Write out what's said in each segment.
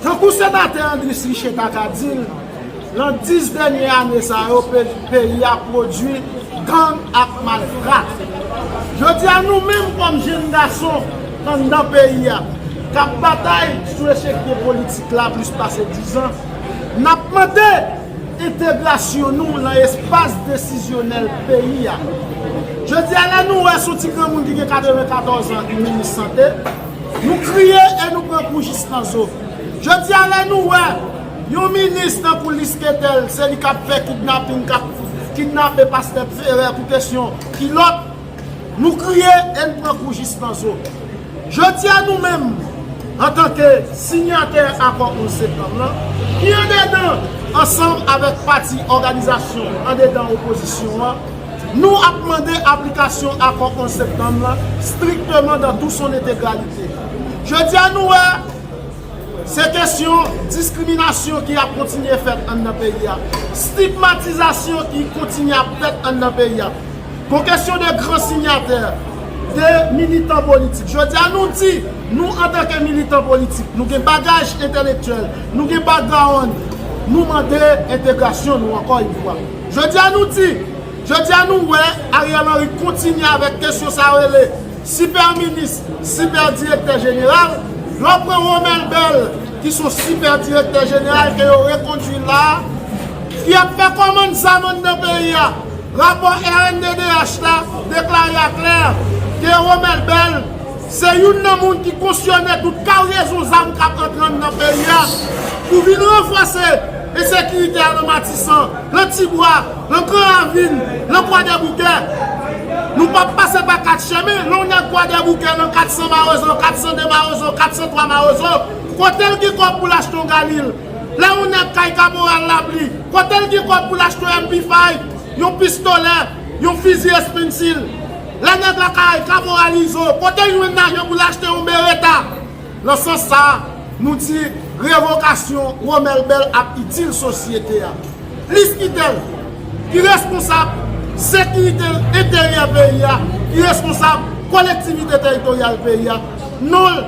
Tankou Senatè Andris Riché ta ka di l, lan 10 dènye ane sa yo peyi a pwodui gang ak malfra. Jodi a nou menm kòm jenn gason anndan peyi a k ap batay sou echèkye politik la plis pase 10 an, n ap mande, Entegrasyon nou lan espas desizyonèl peyi a. Jodi a lè nou wè sou ti granmoun ki gen 94 an ki minis sante, nou kriye e nou pran kou jis nan zo. Jodi a lè nou wè yon minis tankou Lisketèl se li k ap fè kidnaping, k ap kidnape pastè Ferè pou kesyon kilòt, nou kriye e n pran kou jis nan zo. Jodi a nou menm, antanke sinyatè Akò 11 Septanm lan, ki andedan ansanm avèk pati òganizasyon andedan opozisyon an, nou ap mande aplikasyon Akò 11 Septanm lan strikteman dan tou son entegralite. Jodi a nou wè se kesyon diskriminasyon ki ap kontinye fèt anndan peyi a, stigmatizasyon ki kontinye ap fèt anndan peyi a. Pou kesyon de gran sinyatè, de militan politik, jodi a nou di, nou antanke militan politik, nou gen bagaj entelektyèl, nou gen background, nou mande entegrasyon nou ankò yon fwa. Jodi a nou di, jodi a nou wè Ariel Henry kontinye avèk kesyon sa yo rele sipè minis, sipè direktè jeneral, lè w pran Romel Bell ki son sipè direktè jeneral ke yo rekondwi la a, ki ap fè kòmand zam anndan peyi a. Rapò rnddh la deklare a klè ke Romel Bell se youn nan moun ki kosyone tout karyezon zam kap antre nan peyi a pou vin ranfòse ensekirite a nan Matisan, nan Tibwa, nan Gran Ravin, nan Kwadèboukè. Nou pap pase pa 4 chemen, lè w nan Kwadèboukè nan 400 Mawozo, 402 Mawozo, 403 Mawozo, kote l gen kòb pou l achte yon galil? Lè yon nèg kay kaporal lapli, kote l gen kòb pou l achte yon MP5, yon pistolè, yon fizi espensil? Lè nèg la kay kaporal Izo, kote l jwenn lajan pou l achte yon bereta? Nan sans sa a, nou di revokasyon Romel Bell ap itil sosyete a. Plis ki tèl, ki reskonsab sekirite enteryè peyi a, ki reskonsab kolektivite teritoryal peyi a, non l.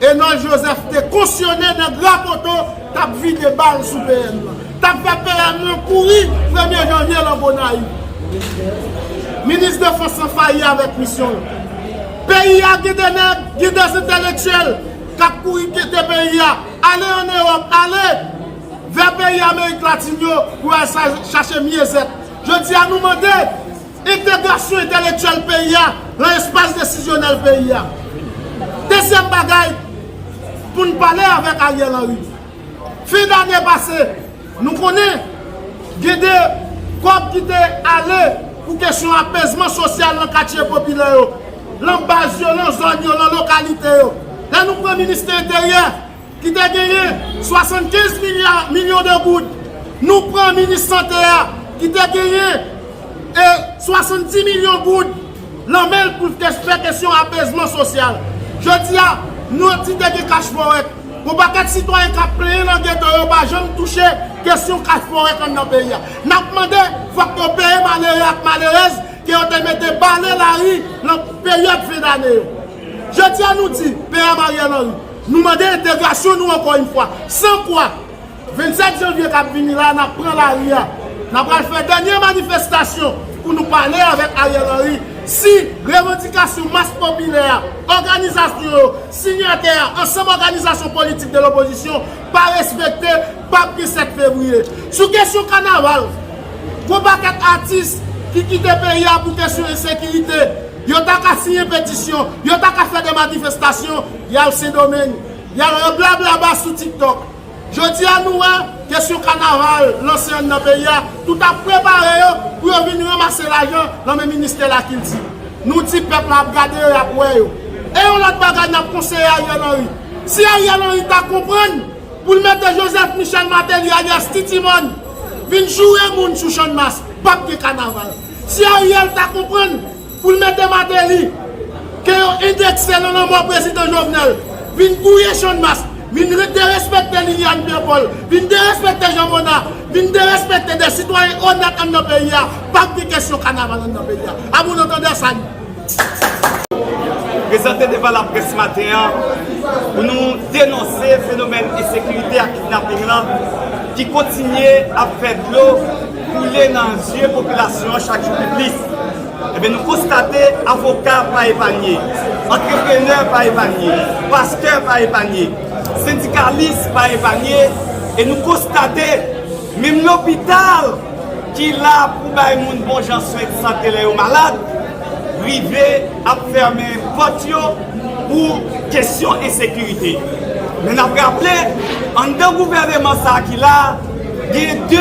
Enol Joseph te konsyone nèg Rapoto tap vide bal sou PM lan. Tap fè PM lan kouri premye janvye lan Gonayiv. Minis defans lan fayi avèk misyon l. Peyi a gen de nèg, gen de zentèlektyèl kap kouri kite peyi a, ale an Ewòp, ale vè peyi Amerik Latin yo pou al chache myezèt. Jodi a nou mande. Entegrasyon entelektyèl peyi a lan espas desizyonèl peyi a. Dezyèm bagay pou n pale avèk Ariel Henry. Fen dane pase, nou konnen gen de kòb ki te ale pou kesyon apezman sosyal lan katye popilè yo, lan baz yo, lan zòn yo, lan lokalite yo. Lè nou pran Ministè Enteryè, ki te genyen 75 milya milyon de goud, nou pran minis sante a ki te genyen e 70 milyon goud lan men l pou te fè kesyon apezman sosyal. Jodi a, nou ap di te gen kach fowèt. Gon pakèt sitwayen k ap plenyen lan geto yo pa janm touche kesyon kach fowèt anndan peyi a. N ap mande fòk yo peye malere ak malerèz ke yo te mete bale lari lan peryòd fen dane yo. Jodi a nou di, PM Ariel Henry, Nou mande entegrasyon nou ankò yn fwa, san kwa, 27 janvye kap vini la nap pran lari a, nan pral fè dènye manifestasyon pou nou pale avèk Ariel Henry si revandikasyon mas popilè a, òganizasyon yo, sinyatè a, ansanm òganizasyon politik de lopozisyon pa respekte, pap gen 7 fevriye. Sou kesyon kanaval, gon pakèt atis ki kite peyi a pou kesyon ensekirite, yo ta ka siyen petisyon, yo ta ka fè de manifestasyon, Yal sendomeng yal rablablaba sou tiktok jodia nou wè kesyon kanaval lanse an nan peyi a tout ap prepare yo pou yo vin ranmase lajan nan men ministè lakilti nou di pèp la ap gade yo yap wè yo e yon lòt bagay nap konseye ariel henry si ariel henry ta konprann poul mete joseph michel mateli alias titimòn vin joure moun sou channmas pap gen kanaval si ariel ta konprann Pou l mete Mateli, ke yo endekse nan lanmò prezidan Jovenel, vin gouye Channmas, vin derespekte Liliane Pierre-Paul, vin derespekte Jean Mona, vin derespekte de sitwayen onèt anndan peyi a, p ap gen kesyon kanaval anndan peyi a. A bon antandè, salut! Prezante devan laprès maten an pou nou denonse fenomèn ensekirite ak kidnaping lan ki kontinye ap fè dlo koule nan zye popilasyon an chak jou pi plis. Ebyen nou konstate avoka pa epanye, antreprenè pa epanye, pastè pa epanye, sendikalis pa epanye e nou konstate menm lopital ki la pou bay moun bon jan swen sante lè yo malad rive ap fèmen pòt yo pou kesyon ensekirite. Men n ap raple anndan gouvèneman sa ki la. Genyen 2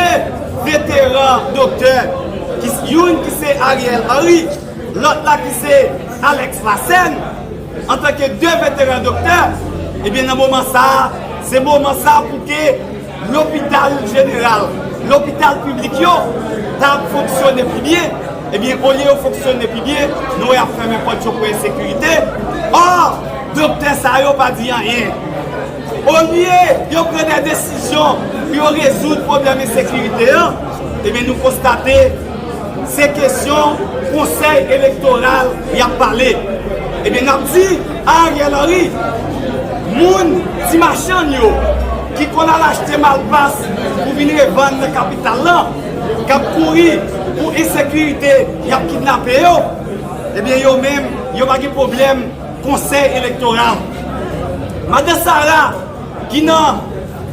veteran doktè, youn ki se Ariel Henry, lòt la ki se Alex Lassène, antanke 2 veteran doktè, ebyen nan moman sa a, se moman sa a pou ke lopital jeneral, lopital piblik yo, ta fonksyone pi byen, ebyen olye yo fonksyone pi byen, nou wè y ap fèmen pòt yo pou ensekirite, ò, doktè sa yo pa di anyen. Olye yo pran de desizyon pou yo rezoud pwoblèm ensekirite an, ebyen nou konstate se kesyon konsèy elektoral y ap pale. Ebyen n ap di a Ariel Henry, moun ti machann yo ki konn al achte malpas pou vin revann nan kapital lan, k ap kouri pou ensekirite y ap kidnape yo, ebyen yo menm yo pa gen pwoblèm. Konsèy elektoral. Madan Sara, ki nan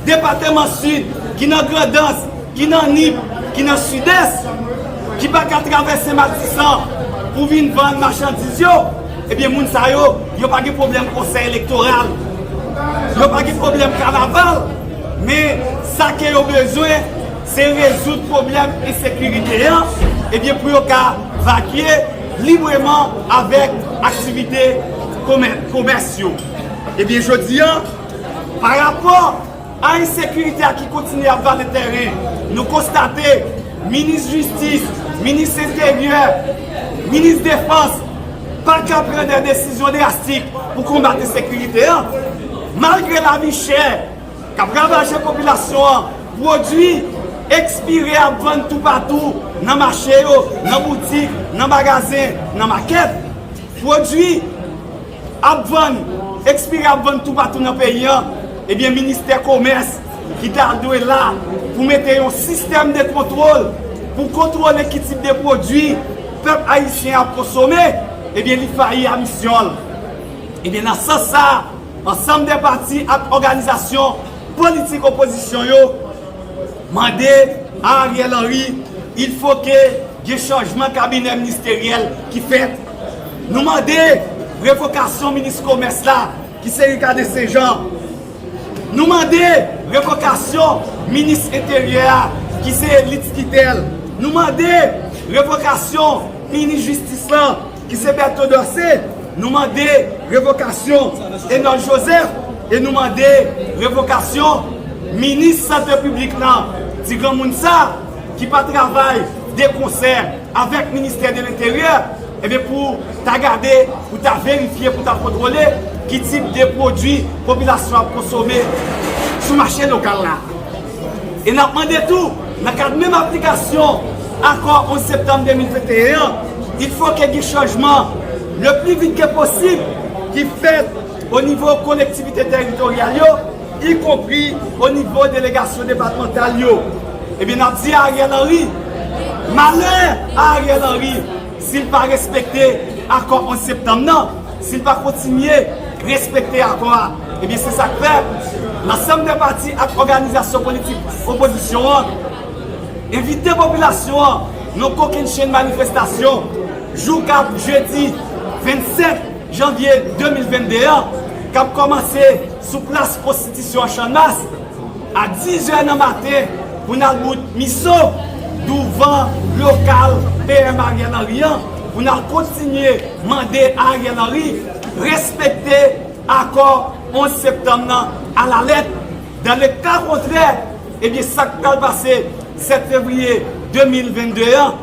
depateman Sid, ki nan Grandans, ki nan Nip, ki nan Sidès, ki pa ka travèse Matisan pou vin vann machandiz yo, ebyen moun sa yo, yo pa gen pwoblèm konsèy elektoral. Yo pa gen pwoblèm kanaval. Men, sa ke yo bezwen, se rezoud pwoblèm ensekirite an, ebyen pou yo ka vakye. libreman avèk aktivite komès yo. Ebyen jodi a, pa rapò a ensekirite a ki kontinye ap vale tèren, nou konstate minis jistis, minis enteryè, minis defans pa ka pran dè desizyon drastik pou konbat ensekirite a, malgre lavi chè. K ap ravaje popilasyon an. Pwodui ekspire ap vann toupatou, nan mache yo, nan boutik, nan magazen, nan makèt. Pwodui ap vann, ekspire ap vann toupatou nan peyi an. Ebyen ministè komès ki ta dwe la pou mete yon sistèm de kontwol pou kontwole ki tip de pwodui pèp ayisyen ap konsome, ebyen li fayi a misyon l. Ebyen nan sans sa a. Ansanm de pati ak òganizasyon politik opozisyon yo mande a Ariel Henry il fo ke gen chanjman kabinè ministeryèl ki fèt. Nou mande revokasyon minis komès la ki se Ricarde Saint Jean. Nou mande revokasyon minis enteryè a ki se Litz Quitel. Nou mande revokasyon minis jistis lan ki se Bertho Dorcé, nou mande revokasyon Enold Joseph e nou mande revokasyon minis sante piblik lan, ti granmoun sa ki pa travay de konsè avèk ministè de lenteryè, ebyen pou ta gade, pou ta verifye, pou ta kontwole ki tip de pwodui popilasyon ap konsome sou mache lokal la. E n ap mande tou, nan kad menm aplikasyon Akò 11 septanm 2021 an, il fò ke gen chanjman le pli vit ke posib ki fèt o nivo kolektivite teritoryal yo, ikonpri o nivo delegasyon depatmantal yo. Ebyen n ap di a Ariel Henry, malè a Ariel Henry! Si l pa respekte akò 11 septanm nan, si l pa kontinye respekte akò a, ebyen se sa k fè lansanm de pati ak òganizasyon politik opozisyon an envite popilasyon an nan kokennchenn manifestasyon jouka jedi 25 janvye 2022 an k ap kòmanse sou plas konstitisyon an Channmas. A 10 zè nan maten, pou n al bout Miso, douvan lokal PM Ariel Henry an, pou n al kontinye mande Ariel Henry respekte akò 11 septanm nan alalèt. Dans le cas contraire, ebyen sa k pral pase 7 fevriye 2022 an?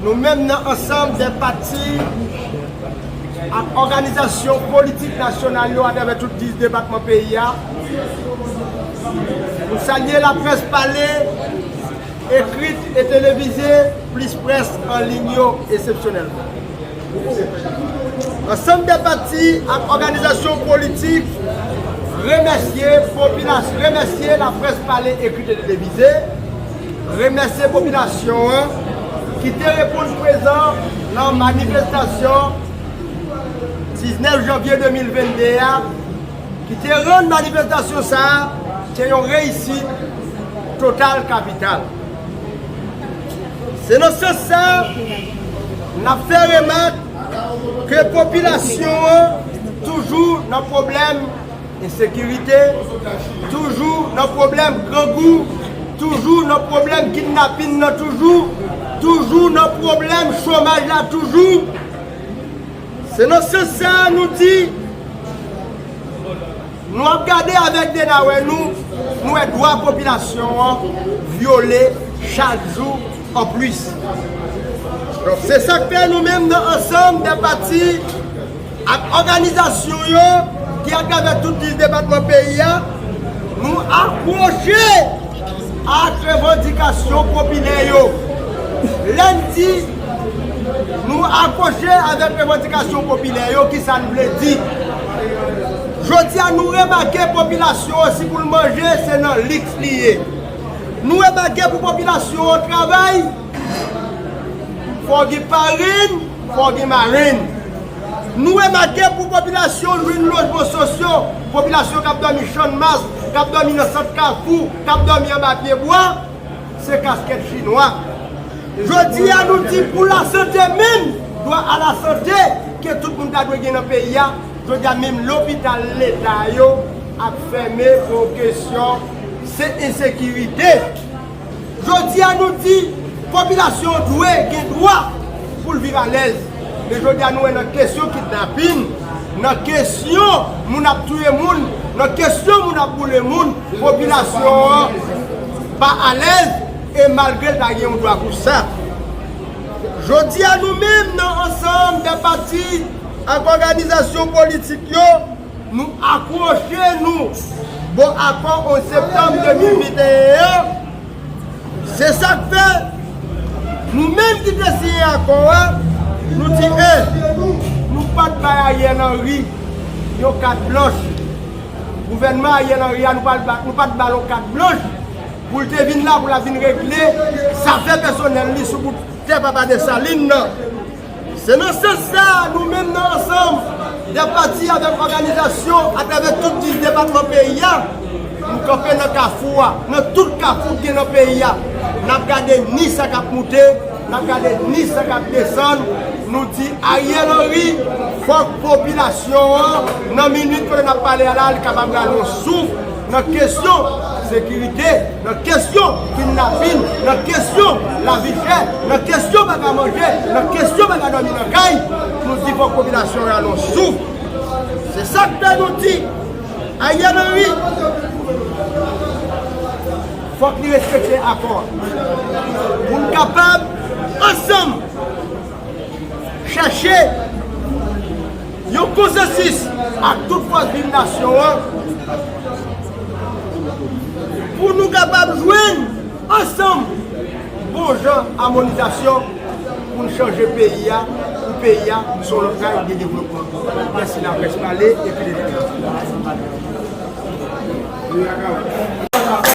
Nou menm nan ansanm dè pati ak òganizasyon politik nasyonal yo atravè tout 10 depatman peyi a, nou salye laprès pale, ekrit e televize plis près an liy yo esepsyonèlman. Ansanm dè pati ak òganizasyon politik remèsye popilas remèsye laprès pale, ekrit e televize. Remèsye popilasyon an ki te reponn prezan nan manifestasyon 19 janvye 2022 a, ki te rann manifestasyon sa a te yon reyisit total kapital. Se nan sans sa a, n ap fè remak ke popilasyon an toujou nan pwoblèm. Ensekirite toujou nan pwoblèm grangou toujou nan pwoblèm kidnapin nan toujou toujou nan pwoblèm chomaj la toujou se nan sans sa nou di nou ap gade avèk de nawè nou nou wè dwa popilasyon an vyole chak jou anplis se sak fè nou menm nan ansanm dè pati Ak òganizasyon yo ki atravè tout 10 depatman peyi a, nou akwoche ak revandikasyon popilè yo. Lè n di nou akwoche avèk revandikasyon popilè yo, ki sa n vle di? Jodi a nou remake popilasyon an si pou l manje se nan liks li ye. Nou remake pou popilasyon an travay, fò gen farin. Fò gen marenn. Nou remake pou popilasyon lwin lojman sosyo, popilasyon k ap dòmi channmas, k ap dòmi nan sant kafou, k ap dòmi anba pye bwa, se kaskèt chinwa. Jodi a nou di pou lasante menm, dwa a lasante ke tout moun ta dwe gen nan peyi a, jodi a menm lopital leta yo ap fèmen pou yon kesyon se ensekirite. Jodi a nou di popilasyon dwe gen dwa pou l viv alèz. Men jodi a nou wè nan kesyon kidnapin, nan kesyon moun ap touye moun, nan kesyon moun ap boule moun, popilasyon an pa alèz e malgre l ta gen yon dwa pou sa. Jodi a nou menm nan ansanm de pati ak òganizasyon politik yo, Nou apwoche nou bò akò 11 septanm 2021 an, se sa k fè, nou menm ki te siyen akò a, nou di e, nou pa t bay Ariel Henry yon kat blanch, gouvènman Ariel Henry a, nou pa t ba l yon kat blanch pou l te vin la pou l ap vin regle zafè pèsonèl li sou bout tè papa Dessalines nan. Se nan sans sa a, nou menm nan ansanm dè pati avèk òganizasyon atravè tout 10 depatman peyi a, nou kanpe nan kafou a, nan tout kafou ki gen nan peyi a, n ap gade ni sa k ap moute, n ap gade ni sa k ap desann, nou di Ariel Henry, fòk popilasyon an, nan minit kote n ap pale a la, li kapab rale yon souf, nan kesyon sekirite, nan kesyon kidnapin, nan kesyon lavi chè, nan kesyon pa ka manje, nan kesyon pa ka dòmi nan kay, nou di fòk popilasyon an alon souf. Se sa k fè nou di Ariel Henry fòk li respekte akò a pou n kapab ansanm. Chèche yon konsansis ak tout fòs viv nasyon an pou nou kapab jwenn ansanm bon jan amonizasyon pou n chanje peyi a pou peyi a sou lòt ray de devlopman. Mèsi laprès pale epi leta pale.